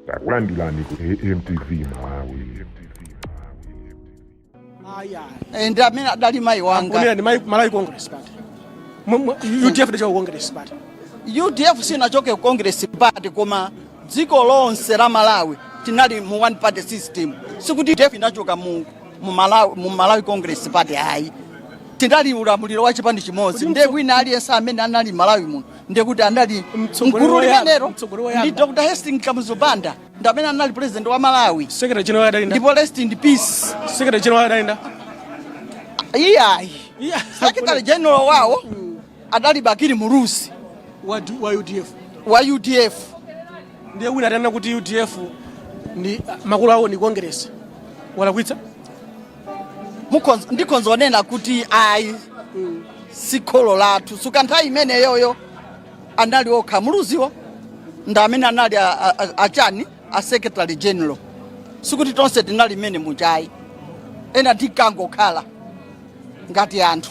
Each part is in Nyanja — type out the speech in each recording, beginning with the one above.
takulandirani ku amtv malawi Eh, ndi amene adali mayi wanga Kunena ndi Malawi- Malawi Congress Party. Mu- mu- UDF inachoka ku Congress Party. udf sinachoke ku congress party koma dziko lonse la malawi tinali mu one party system sikuti udf inachoka mu, mu, malawi, mu malawi congress party ayi tinali ulamuliro wa chipani chimodzi nde wina aliyense amene anali malawi muno ndekuti anali m'gulu limenelo ndi dr hastings kamuzu banda ndamene anali president wa malawi ndipo rest in peace iyayi secretary general wawo adali bakili muluzi wa udf wa udf ndiye wina atanena kuti udf ndi makolo awo ndi congress walakwitsa Mukhonz- ndikhonza kunena kuti ayi si kholo lathu chifukwa nthawi imeneyoyo anali okha muluziwo ndi amene anali a- a- a- achani a secretary general sikuti tonse tinali mmenemuja ayi ena tinkangokhala ngati anthu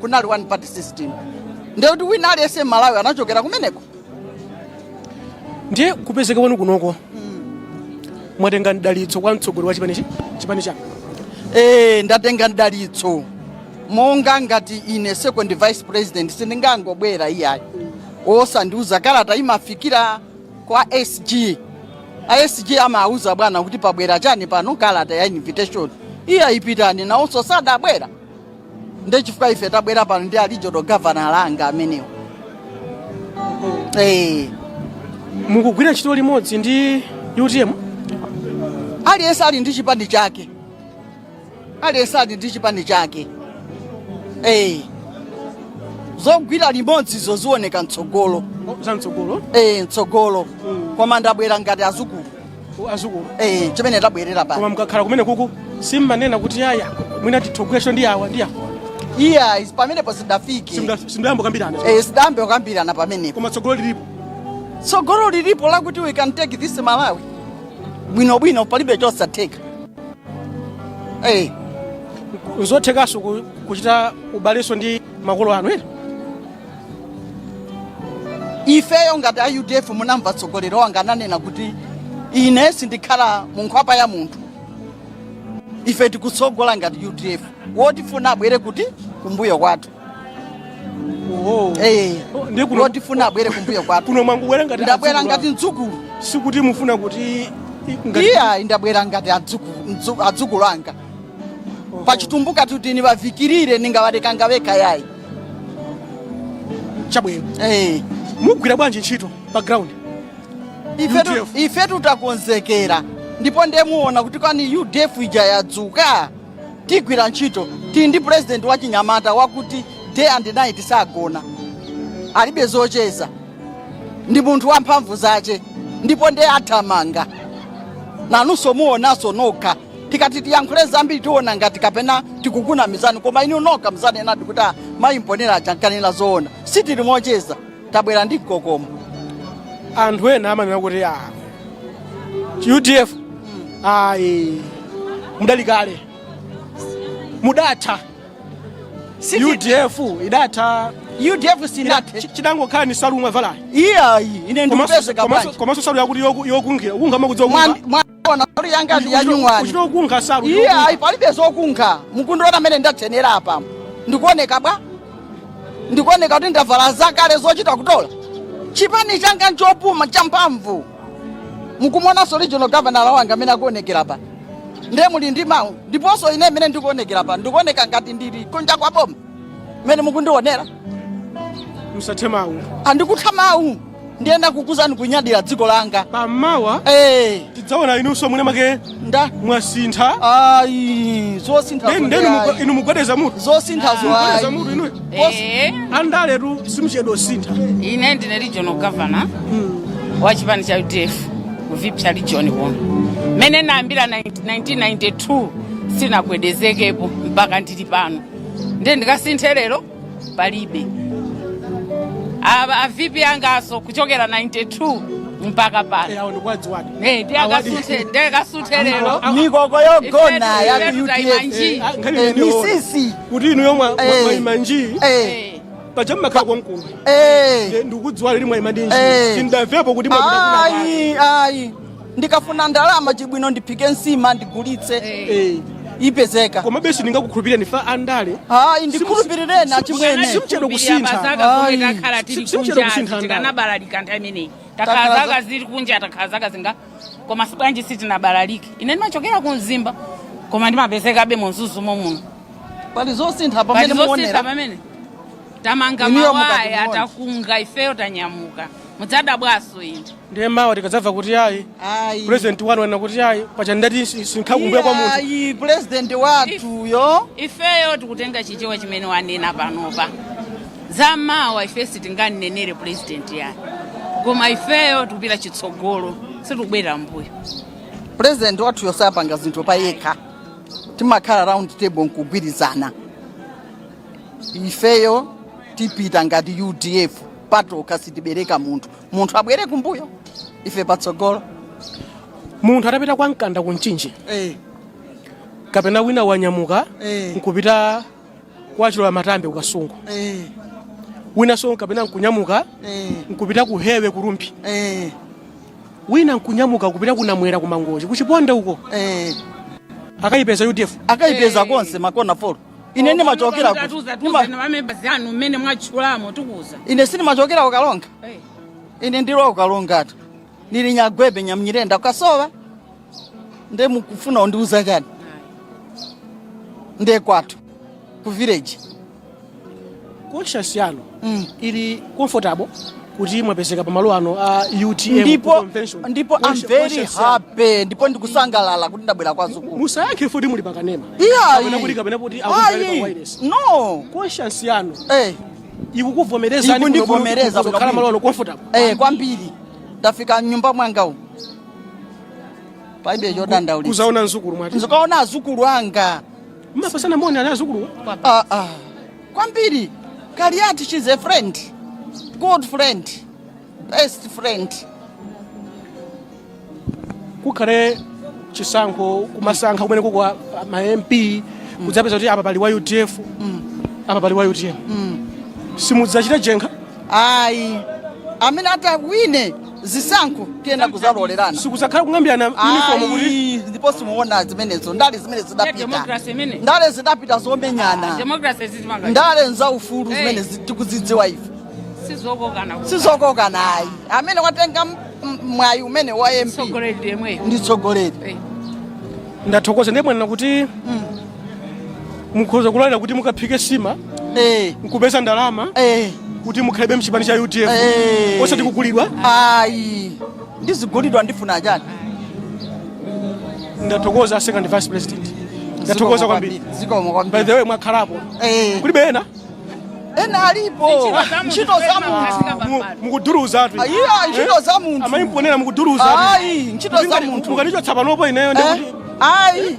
kunali one party system ndiye kuti wina aliyense mmalawi anachokera kumeneko ndiye kupezeka kwanu kunoko mwatenga mdalitso kwa mtsogoleri wa chipani chi- chipani chanu e, ndatenga mdalitso monga ngati ine second vice president sindingangobwera iyayi osandiuza kalata imafikira kwa sg a sg amauza bwana kuti pabwera chani pano kalata ya invitation iya ipitani nawonso sadabwera nde chifukwa ife tabwera pano ndi a regional governor anga amenewo Eh, mukugwira ntchito limodzi ndi utm aliyense ali ndi chipani chake aliyense ali ndi chipani chake Eh, zogwira limodzi izo zioneka mtsogolo zamtsogolo Eh, mtsogolo koma ndabwera ngati adzukulu adzukulu eh chimene tabwerera pa koma mukakhala kumeneko ku simmanena kuti iyayi mwina titogwiranso ndi awa ndi awa iyayi pamenepo sitidafike Simda- simudayambe kukambirana eh sitidayambe kukambirana pamene koma tsogolo lilipo tsogolo lilipo lakuti we can take this malawi bwino bwino palibe chosatheka eh n'zothekanso ku- kuchita ubalenso ndi makolo anu ena ifeyo ngati a udf munamva mtsogoleri wanga ananena kuti ine sindikhala mu nkhwapa ya munthu ife tikutsogola ngati udf wotifuna abwere kuti kumbuyo kwathu Oh. Eh, Ndiye kuno- wotifuna abwere kumbuyo kwathu kuno mwangobwera ngati ndabwera adzukulu ngati mdzukulu a- sikuti mufuna kuti i- ngati- iyayi ndabwera ngati adzukulu- mdzu- adzukulu anga pachitumbuka tikuti niwavikilire ningawalekanga weka yayi chabwino Eh, mugwira bwanji ntchito pa ground ifetu UDF. ifetu takonzekera ndipo ndiye muona kuti kwani UDF ija yadzuka tigwira ntchito tili ndi president wa chinyamata wakuti day and night sagona alibe zocheza ndi munthu wamphamvu zace ndipo ndiye athamanga nanunso muonanso nokha tikati tiyankhule zambiri tiona ngati kapena tikukunamizani koma inu nokha mudzanenadi kuti ah, mayi mponera aja ankanena zoona sitili mocheza tabwera ndi mkokomo anthu ena amanena kuti a udf ayi mudali kale mudatha Siti- udf idatha udf sinathe Chi- chidangokhala ni salu mwavalayi iyayi ine ndikupezeka bwanji komanso salu yakuti yokunkhira ukunkha mukudziwa Mwandi- mwa- Ona salu yanga ndi yanyuwani. Kuchito kunkha salu. Iyayi palibe zokunkha. Mukundiona mmene ndatchenera apa. Ndikuoneka bwa? Ndikuoneka kuti ndavala zakale zochita kutola. Chipani changa nchopuma champhamvu. Mukumuonanso regional governor wanga mmene akuonekera apa. Ndiye muli ndi mawu. Ndiponso ine mmene ndikuonekera apa. Ndikuoneka ngati ndili kunja kwa boma. mmene mukundionera musathe mawu sindikutha mawu ndinakuuzani kunyadira dziko langa pamawa Eh, tidzaona inunso mwene wake muta mwasintha ayi zosintha Then- then zonse ayi. inu mugwedeza mutu zosintha mugwedeza zo mutu inu Eh, andaletu simuchedwa kusintha ine ndine regional governor wa chipani cha udf ku Viphya region kuno mmene nayambira 1992 sinnagwedezekepo mpaka ndili pano ndiye ndikasinthe lero palibe ava a VP anganso kuchokera 92 mpaka pano awo ndikuwadziwadi Eh, ndiye akasinthe- ndiye akasinthe lero mikoko yogona ya Ifetu- ifetu taima udf njii. Ah, nkhani Eh, imeneyo. Mrs kuti inu yomwe Eh. mwaima njii Eh, Eh, paja mmakhala komkuno eh. ndikudziwa kuti mwaima njii Eh. sindamvepo kuti mwapita kwina ayi ayi ndikafuna ndalama chibwino ndiphike nsima ndigulitse Eh, ipezeka komabe sindingakukhulupireni pa andale ayi ndikhulupirireni achimwene simchedwa kusintha pazaka Ayi. zomwe takhala tili Si- si- kunja simchedwa kusintha tikanabalalika nthawi imeneyi Takhala takhala za- zaka zili kunja takhala zaka zinga koma bwanji sitinabalalike ine ndimachokera ku mzimba koma ndimapezekabe mu mzuzu momuno pali zosintha pamene palizosintha muonera pamene tamanga Inuyo mukati mawaya muone. takunga ifeyo tanyamuka mudzadabwaso ine ndiye mawa tikadzamva kuti ayi Ayi. president wanu wanena kuti ine paja ndati sinkhala kumbuyo kwa munthu Ayi, president wathuyo ifeyo tikutenga chichewa chimene wanena panopa za mawa ife sitinganenere purezidenti yani koma ifeyo tikupita chitsogolo sitikubwerera mbuyo president wathuyo sapanga zinthu pa yekha timakhala round table nkugwirizana ifeyo tipita ngati udf patokha sitibereka munthu munthu abwere kumbuyo ife patsogolo munthu atapita kwa mkanda ku mchinji eh, kapena wina wanyamuka Eh. nkupita kwa chilola matambe ku kasungu eh, winanso kapena nkunyamuka eh, nkupita ku hewe ku rumphi eh, wina nkunyamuka kupita ku namwera ku mangochi kuchiponde uko eh. akayipeza udf akayipeza konse makona four ine ndimachokera kuti Tatuza ndima- tuza na mamembala anu mmene mwatchulamo tikuza. ine sindimachokera ku karonga Eh. ine ndiri wa ku karongatu ndiri nyagwebe nyamnyirenda ku kasowa nde mukufuna kundiuza chani nde kwathu ku village Conscience yanu mm, ili comfortable kuti mwapezeka pamalo ano a utm ndipo convention. ndipo Mwaisha- I'm very mwaisha sana. happy ndipo ndikusangalala kuti ndabwera kwa azukulu musayankhe poti muli pakanema kapena kuti kapena kuti akumvani pa wireless no conscience yanu eh ikukuvomerezani kuno Ikundivomereza kuti muzikhala kwambiri. malo ano comfortable eh kwambiri ndafika mnyumba mwanga umu palibe chodandaulira kuzaona nzukulu mwati nzikaona azukulu anga mapatsana moni ana azukulu ah ah kwambiri kaliati she's a friend good friend best friend kukhale chisankho kumasankha kumene kukwa a- a- ma mp kudzapeza kuti apa pali wa udf apa pali wa utm simudzachita jenkha ayi amene atawine zisankho tiyenda kuzalolerana sikuzakhala kung'ambirana uniform kuti Ayi, ndipo simuona zimenezo ndale zimene zidapita democracy imene. ndale zidapita zomenyana democracy sizimanga ndale nza ufulu Hey. zimene zi- tikuzidziwa ife sizokokana kuti sizokokana ayi amene watenga m- m- mwayi umene wa mp tsogoleri yemweyo ndi tsogoleri Eh. ndathokoza ndiye mwanena kuti mukhoza kulolera kuti mukaphike sima Eh, nkupeza ndalama eh, kuti mukhalebe mchipani cha udf Eh. osati kugulidwa ayi ndizigulidwa ndifuna chani ndathokoza second vice president ndathokoza kwambiri zikomo by kwambiri the way mwakhalapo Eh, kulibe ena ena alipo ntchito za munthu Mu- mukuduruza atu ayi ayi, ntchito za munthu zimamuchitira mukuduruza atu ayi ntchito za munthu mukanichotsa panopo ineyo Eh, ndikuti ayi